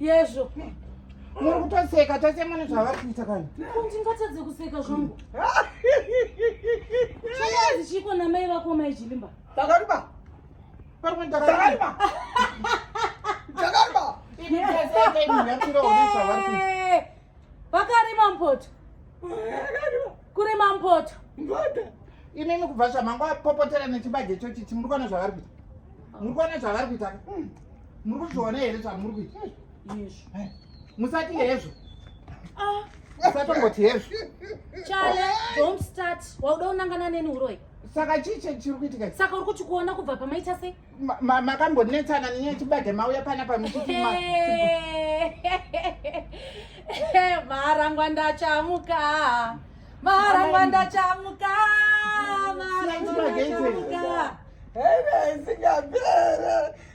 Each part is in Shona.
yezvo muri kutoseka tose mune zvavari kuita kana ndingatadze kuseka zvangu chaazi chiiko namai vako mai jilimba takariba pamwe takariba takariba vakarima mpoto kurima mpoto imimi kubva zvamangu apopotera nechibage chochichi muri kuona zvavari kuita muri kuona zvavari kuita hmm. muri kuzviona here zvamuri kuita musati hezvo ah. usatongoti hezvo chale don't start wauda unangana neni uroi saka chii chiri kuitika saka uri kuti kuona kubva pamaita sei makambonetsana nenyaya chibage mauya pana pamaaarangwa ndachamuka maarangwa ndachamuka maarangwa ndachamuka heve isingapere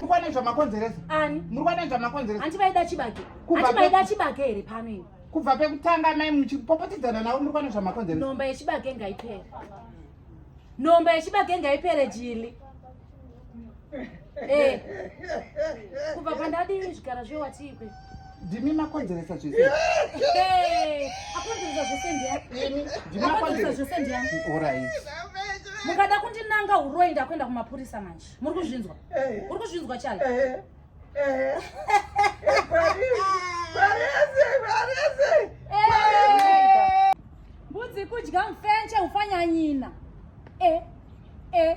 mukwane zvamakonzeresa ani murikwane zvamakonzeresa hanti vaida chibake hanti vaida chibake here pano ini kubva pekutanga mai muchipopotedzana navo murikwane zvamakonzeresa nhomba yechibake ngaipere nhomba yechibake ngaipere jili eh. kubva pandadii zvigara zvewatikwe ndimi makonzeresa zvese akonzeresa zvese ndiani ndimi makonzeresa zvese ndiani orai mukada kundinanga uroi ndakuenda kumapurisa manje muri kuzvinzwa eh. uri kuzvinzwa chale eh. eh. mbudzi kudya mfenche ufanyanyina e e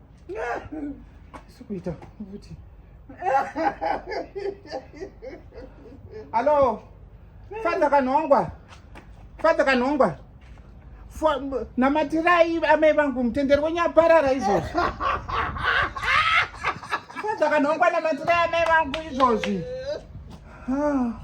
sikuita futi alo fadza kanhongwa fadza kanhongwa namatirai amai vangu mutenderi wenyu aparara izvozvi fadza kanhongwa namatirai amai vangu izvozvi ah.